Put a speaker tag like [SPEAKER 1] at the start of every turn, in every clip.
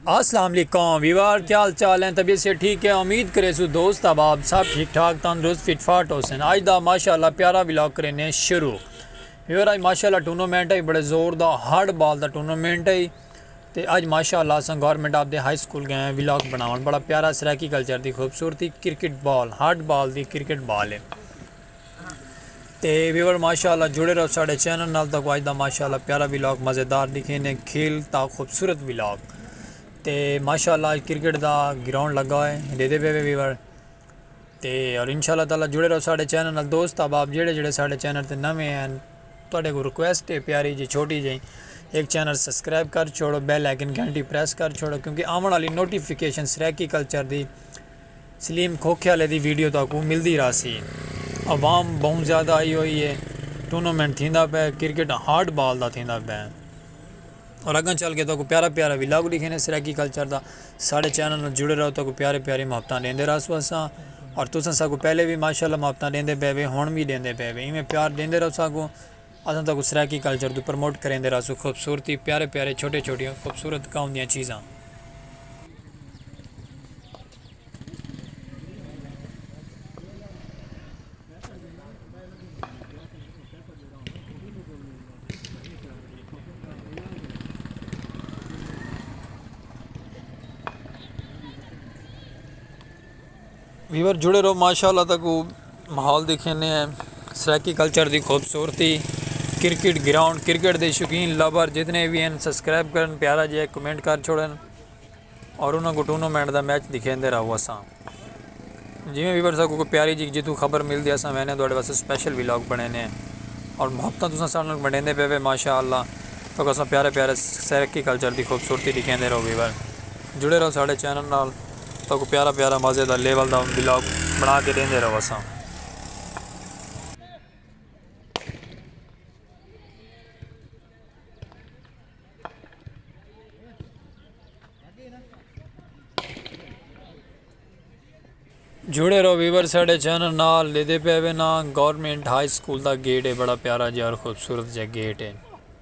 [SPEAKER 1] اسلام علیکم ویوار کیا حال چال ہیں طبیعت سے ٹھیک ہے امید کریسو دوست احباب سب ٹھیک ٹھاک تندرست فٹ فاٹ ہو سن آج دا ماشاءاللہ پیارا ولاگ کرینے شروع ویوار آج ماشاءاللہ ٹورنامنٹ ہے بڑے زور دا ہارڈ بال دا ٹورنامنٹ ہے تے اج ماشاءاللہ اساں government of the high school گئے ہیں ولاگ بناون بڑا پیارا سرائیکی کلچر دی خوبصورتی کرکٹ بال ہارڈ بال دی کرکٹ بال ہے تے ویور ماشاء اللہ جڑے رہو ساڑے چینل نال تاکو آج دا ماشاء اللہ پیارا ولاگ مزیدار دکھینے کھیل تا خوبصورت ولاگ تے ماشاء اللہ آج کرکٹ دا گراؤنڈ لگا ہوئے دے دے پے وے ویور تے اور ان شاء اللہ تعالیٰ جڑے رہو ساڑے چینل نال دوست احباب جڑے جڑے ساڑے چینل تے نویں ہیں تواڈے کو ریکویسٹ ہے پیاری جی چھوٹی جی ایک چینل سبسکرائب کر چھوڑو بیل آئیکن گھنٹی پریس کر چھوڑو کیونکہ آون والی نوٹیفیکیشن سرائیکی کلچر دی سلیم کھوکھیالے دی ویڈیو تہاکوں ملدی رہسی۔ عوام بہوں زیادہ آئی ہوئی ہے۔ ٹورنامنٹ تھیندا پئے کرکٹ ہارڈ بال دا تھیندا پئے۔ اور اگاں چل کے تہاکوں پیارا پیارا ولاگ ڈیکھینے سرائیکی کلچر دا۔ ساڈے چینل نال جڑے رہو تہاکوں پیاری پیاری محبتاں ڈیندے رہسوں اساں۔ اور تساں ساکوں پہلے وی ماشاءاللہ محبتاں ڈیندے پئے وے ہن وی ڈیندے پئے وے ایویں پیار ڈیندے رہو ساکوں۔ اساں تہاکوں سرائیکی کلچر توں پرموٹ کریندے رہسوں خوبصورتی پیارے پیارے چھوٹے چھوٹیاں خوبصورت گاؤں دیاں چیزاں۔ ویور جڑے رہو ماشاء اللہ تک ماحول دیکھنے ہیں سرائیکی کلچر دی خوبصورتی کرکٹ گراؤنڈ کرکٹ دے شوقین لبر جتنے بھی ہیں سبسکرائب کرن پیارا جی کمنٹ کر چھوڑن اور انہوں کو ٹورنامنٹ دا میچ دکھیں دے رہو اساں جی میں ویور سا کو پیاری جی جتوں خبر مل دیا اساں میں نے دوڑے واسے سپیشل ویلاگ بنے نے اور محبتہ تساں سارے بنے دے پہ ماشاء اللہ تو اساں پیارے پیارے سرائیکی کلچر دی خوبصورتی دکھیں دے رہو ویور جڑے رہو سارے چینل نال تہاکوں پیارا پیارا مزے دا لیول دا ولاگ بنا کے ڈیندے رہوساں۔ جڑے رہو ویور ساڈے چینل نال ڈیدھے پے وینا گورنمنٹ ہائی سکول دا گیٹ ہے بڑا پیارا جیار خوبصورت جا گیٹ ہے۔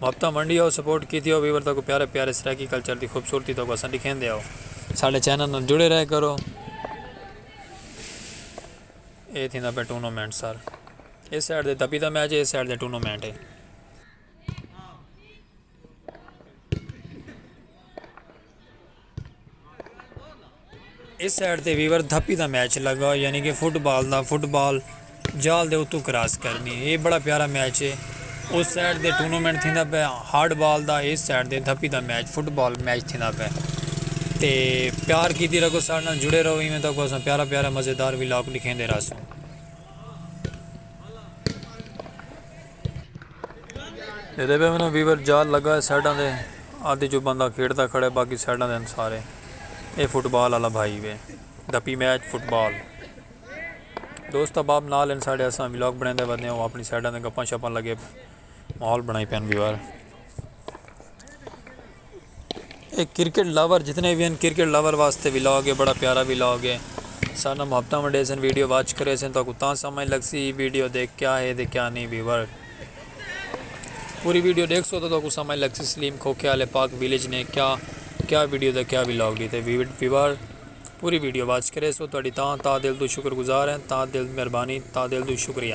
[SPEAKER 1] محبتاں ونڈیو سپورٹ کیتیو ویور تاکوں پیارے پیارے سرائیکی کلچر دی خوبصورتی تاکوں اساں ڈکھیندے ہو۔ ساڈے چینل نال جڑے رہے کرو۔ اے تھیندا پئے ٹونومنٹ سر۔ اے سائیڈ دے دبی دا میچ اے سائیڈ دے ٹونومنٹ اے۔ اس سائیڈ تے ویور دھپی دا میچ لگا یعنی کہ فٹ بال دا فٹ بال جال دے اتو کراس کرنی اے بڑا پیارا میچ ہے اس سائیڈ دے ٹورنامنٹ تھیندا پہ ہارڈ بال دا اس سائیڈ دے دھپی دا میچ فٹ بال میچ تھیندا پہ تے پیار کیتی رکھو سارے نال جڑے رہو ایویں تک اساں پیارا پیارا مزیدار ولاگ لکھیں دے راسوں ریونیو ویور جال لگا ہے سائیڈاں دے آدھی جو بندہ کھیڈدا کھڑا ہے باقی سائیڈاں دے ہن سارے اے فٹ بال آلا بھائی وے دا پی میچ فٹ بال دوست احباب نال ہن ساڈے اساں ولاگ بنیندے ودے ہوں اپنی سائیڈاں دے گپاں شپاں لگے ماحول بنائی پین ویور اے کرکٹ لور جتنے وی ہن کرکٹ لور واسطے ولاگ اے بڑا پیارا ولاگ اے سارے نال محبتاں ونڈیسن ویڈیو واچ کریسن تہاکوں تاں سمجھ لگسی ویڈیو دے کیا ہے تے کیا نیں ویور پوری ویڈیو ڈیکھسو تاں تہاکوں سمجھ لگسی سلیم کھوکھے آلے پاک ویلیج نے کیا کیا ویڈیو تے کیا ولاگ ڈیتے ویور پوری ویڈیو واچ کریسو تہاڈی تاں تہہ دل توں شکر گزار ہیں تہہ دل مہربانی تہہ دل توں شکریہ۔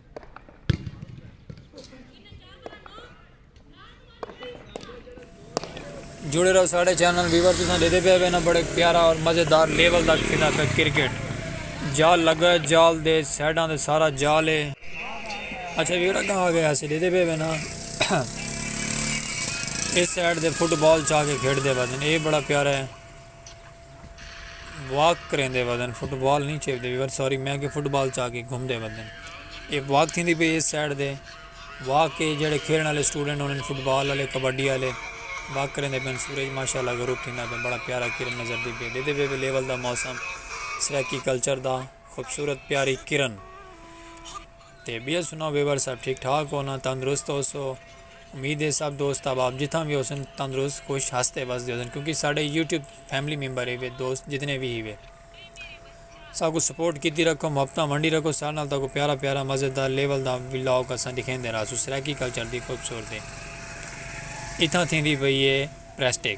[SPEAKER 1] جڑے رہو ساڑھے چینل ویور تساں دے دے پہ ہوئے نا بڑے پیارا اور مزیدار لیول دا کھینا پہ کرکٹ جال لگا جال دے سیڈاں دے سارا جال ہے اچھا ویور اگاں آگے ہسے دے دے پہ ہوئے نا اس سیڈ دے فٹ بال چاہ کے کھیڑ دے بازن اے بڑا پیارا ہے واک کریندے ودن فٹ بال نہیں چیوتے ویور سوری میں کہ فٹ بال چا کے گھومدے ودن اے واک تھیندی پئی اس سائیڈ دے واک کے جڑے کھیلن والے سٹوڈنٹ ہونے فٹ بال والے کبڈی والے واک کریندے پن سورج ماشاءاللہ غروب تھیندا پہ بڑا پیارا کرن نظر دی پہ دیدے پہ لیول دا موسم سرائیکی کلچر دا خوبصورت پیاری کرن تے ٻیئے سناؤ ویور صاحب ٹھیک ٹھاک ہو نا تندرست ہوسو امید ہے سب دوست احباب جتھاں وی ہوسن تندرست خوش ہستے وسدے ہوسن کیونکہ ساڈے یوٹیوب فیملی ممبر ہیوے دوست جتنے وی ہیوے ساکوں سپورٹ کیتی رکھو محبتاں ونڈی رکھو ساڈے نال تاکوں پیارا پیارا مزیدار لیول دا ولاگ اساں ڈکھیندے رہسوں سرائیکی کلچر دی خوبصورتی اتھاں تھیندی پئی ہے پریسٹک۔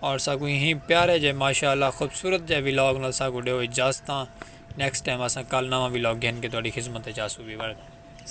[SPEAKER 1] اور ساکوں اہیں پیارے جے ماشاء اللہ خوبصورت جے ولاگ نال ساکوں ڈیو اجازتاں نیکسٹ ٹائم اساں کل نواں ولاگ گھن کے تہاڈی خدمت اچ آسوں ویور۔